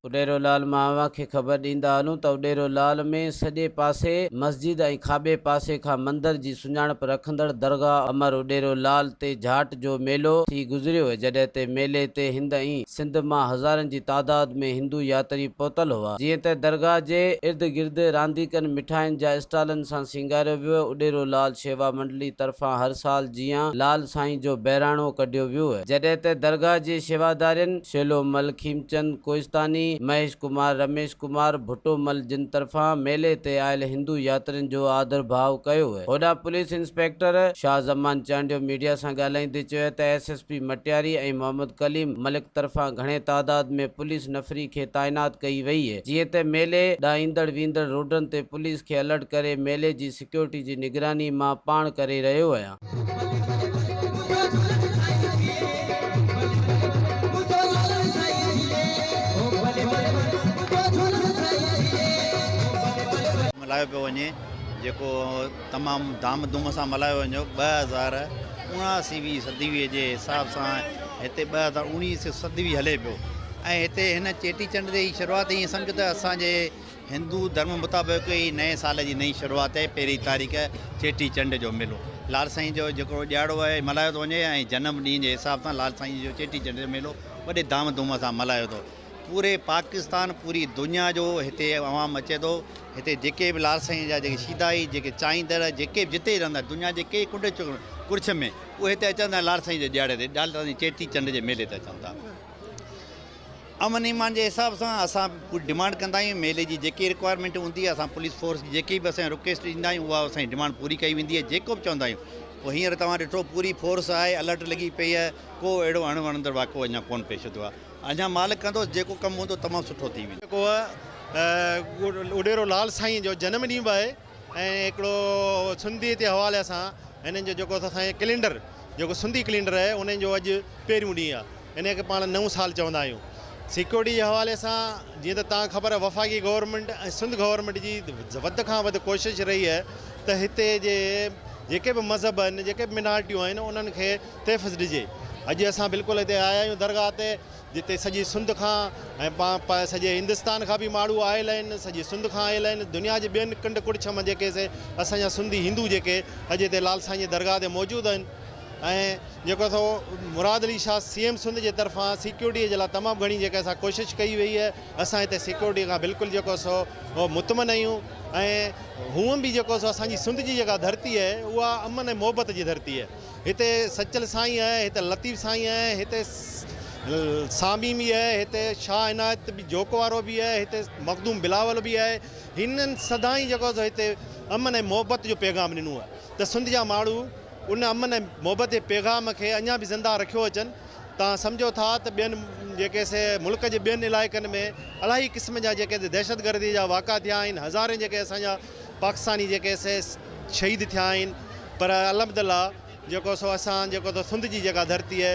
اڏيرو لعل مان اوهان کي خبر ڏيندا هلون ته اڏيرو لعل ۾ سڄي پاسي مسجد ۽ کاٻي پاسي کان مندر جي سڃاڻپ رکندڙ درگاهه امر اڏيرو لعل تي جھاٽ جو ميلو ٿي گذريو جڏهن تي ميلي تي هند ۽ سنڌ مان هزارن جي تعداد ۾ هندو ياتري پهتل هئا جيئن ته درگاهه جي ارد گرد رانديڪن مٺاين جا اسٽالن سان سينگاريو ويو اڏيرو لال شيوا منڊلي طرفان هر سال جيان لال سائين جو بهراڻو ڪڍيو ويو جڏهن ته درگاهه جي شيوادارين شيلو مل کيمچند ڪوهستاني مهيش ڪمار رميش ڪمار ڀٽو مل جن طرفان ميلي تي آيل هندو ياترين جو آڌر ڀاء ڪيو هوڏانهن police inspector Shah Zaman Chandio media سان ڳالهائيندي چيو ته S S P Matiari ۽ Muhammad Kaleem Malik طرفان گهڻي تعداد ۾ پوليس نفري کي تعينات ڪئي وئي جيئن ته ميلي ڏانهن ايندڙ ويندڙ روڊن تي پوليس کي الرٽ ڪري ميلي جي سيڪيورٽي جي نگراني مان پاڻ ڪري رهيو آهيان. ملهايو پيو وڃي. جيڪو تمام ڌام ڌوم سان ملهايو ويندو ٻه هزار اوڻاسيوي صديوي جي حساب سان هتي ٻه هزار اوڻيسيو صديوي هلي پيو ۽ هتي هن چيٽي چنڊ جي شروعات ائين سمجهه ته اسان جي هندو ڌرم مطابق هي نئين سال جي نئين شروعات آهي پهرين تاريخ چيٽي چنڊ جو ميلو لال سائين جو جيڪو ڏيهاڙو آهي ملهايو ٿو وڃي ۽ جنم ڏينهن جي حساب سان لال سائين جو چيٽي چنڊ جو ميلو وڏي ڌام ڌوم سان ملهايو ٿو پوري پاڪستان پوري دنيا جو هتي عوام اچي ٿو هتي جيڪي به لال سائينء جا جيڪي شيدائي، جيڪي چاهيندڙ، جيڪي به جتي رهندا، دنيا جي ڪنهن ڪنڊ ڪڙڇ ۾، اهي هتي اچن ٿا ۽ لال سائينء جي ڏيهاڙي تي، لال سائينء جي چيٽي چنڊ جي ميلي تي اچن ٿا. امن ايمان جي حساب سان اسان به پوري ڊمانڊ ڪندا آهيون، ميلي جي جيڪي رڪوائرمينٽ هوندي آهي، اسان پوليس فورس کي جيڪي به اسان رڪويسٽ ڏيندا آهيون، اها اسان جي ڊمانڊ پوري ڪئي ويندي آهي، جيڪو به چوندا آهيون. پوء هينئر توهان ڏٺو پوري فورس آهي، الرٽ لڳي پئي آهي، ڪو اهڙو اڻ وڻندڙ واقعو اڃا ڪونه پيش ٿيو آهي. اڃا مالڪ ڪندو جيڪو ڪم هوندو تمام سٺو ٿي ويندو. جيڪو اڏيرو لال سائين جو جنم ڏينهن به آهي ۽ هڪڙو سنڌي جي حوالي سان هنن جو جيڪو اسان سائين ڪلينڊر جيڪو سنڌي ڪلينڊر آهي انهن جو اڄ پهريون ڏينهن آهي انهن کي پاڻ نئون سال چوندا آهيون سيڪيورٽي جي حوالي سان جيئن ته تان خبر وفاقي گورنمنٽ ۽ سنڌ گورنمنٽ جي وڌ کان وڌ ڪوشش رهي آهي ته هتي جي جيڪي به مذهب آهن جيڪي به منارٽيون آهن انهن کي تحفظ ڏجي. اڄ اسان بلڪل اتي آيا آهيون درگاهه تي جتي سڄي سنڌ کان ۽ پان پاء سڄي هندستان کان به ماڻهو آيل آهن سڄي سنڌ کان آيل آهن دنيا جي ٻين ڪنڊ ڪڙڇ مان جيڪي سي اسان جا سنڌي هندو جيڪي اڄ اتي لال سائين جي درگاهه تي موجود آهن ۽ جيڪو سو مراد علي شاهه سي ايم سنڌ جي طرفان سيڪيورٽي جي لاء تمام گهڻي جيڪي اسان ڪوشش ڪئي وئي آهي اسان اتي سيڪيورٽي کان بلڪل جيڪو سو مطمئن آهيون ۽ هونء به جيڪو سو اسان جي سنڌ جي جيڪا ڌرتي آهي اها امن ۽ محبت جي ڌرتي آهي. هتي سچل سائين آهي، هتي لطيف سائين آهي، هتي سامي به آهي، هتي شاهه عنايت به جوڪ وارو به آهي، هتي مخدوم بلاول به آهي، هنن سدائين جيڪو سو هتي امن ۽ محبت جو پيغام ڏنو آهي ته سنڌ جا ماڻهو ان امن ۽ محبت جي پيغام کي اڃا به زنده رکيو اچن تان سمجهو ٿا ته ٻين جيڪي سي ملڪ جي ٻين علائقن ۾ الاهي قسم جا جيڪي دهشتگردي جا واقعا ٿيا آهن هزارين جيڪي اسان جا پاڪستاني جيڪي سي شھيد ٿيا آھن پر الحمدالله جيڪو سو اسان جيڪو سو سنڌ جي جيڪا ڌرتي اھي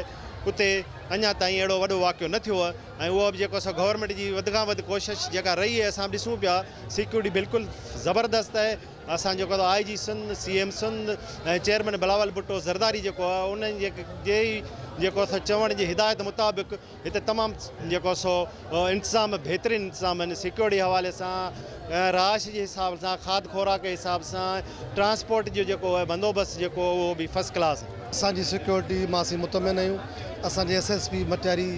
اتي اڃا تائين اھڙو وڏو واقعو نه ٿيو اھي ۽ اھو به جيڪو سو گورنمينٽ جي وڌ کان وڌ ڪوشش جيڪا رھي اھي اسان ڏسون پيا سيڪيورٽي بلڪل زبردست اھي اسان جيڪو سو I G Sindh C M Sindh ۽ chairman Bilawal Bhutto Zardari جيڪو اھي انھن جي جي جيڪو سو چوڻ جي ھدايت مطابق هتي تمام جيڪو سو انتظام بهترين انتظام آهن سيڪيورٽي حوالي سان رهائش جي حساب سان کاد خوراڪ جي حساب سان ٽرانسپورٽ جو جيڪو آهي بندوبست جيڪو اهو به فرسٽ ڪلاس آهي. اسان جي سيڪيورٽي مان اسين مطمئن آهيون اسان جي S S P Matiari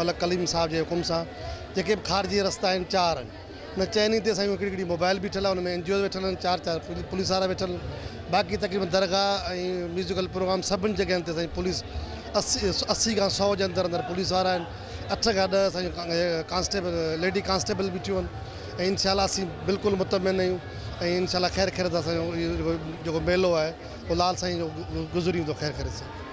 Malik Kaleem صاحب جي حڪم سان جيڪي به خارجي رستا آهن چار آهن ان چئني تي سائين هڪڙي هڪڙي موبائل بيٺل آهي ان ۾ NGO ويٺل آهن چار چار پوليس وارا ويٺل آهن باقي تقريبن درگاهه ۽ ميوزيڪل پروگرام سڀني جڳهين تي سائين پوليس اسي اسي کان سؤ جي اندر اندر پوليس وارا آهن اٺ کان ڏهه سائين ڪانسٽيبل ليڊي ڪانسٽيبل بيٺيون آهن ۽ ان شاء الله اسي بلڪل مطمئن آهيون ۽ ان شاء الله خير خيريت سان اهو جيڪو ميلو آهي اهو لال سائين جو گذري ويندو خير خيريت سان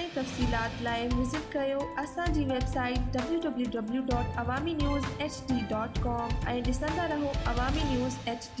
۽ تفصيلات لاء وزٽ ڪريو اسان جي ويب سائيٽ www.awaminewshd.com ۽ ڏسندا رهو عوامي نيوز HD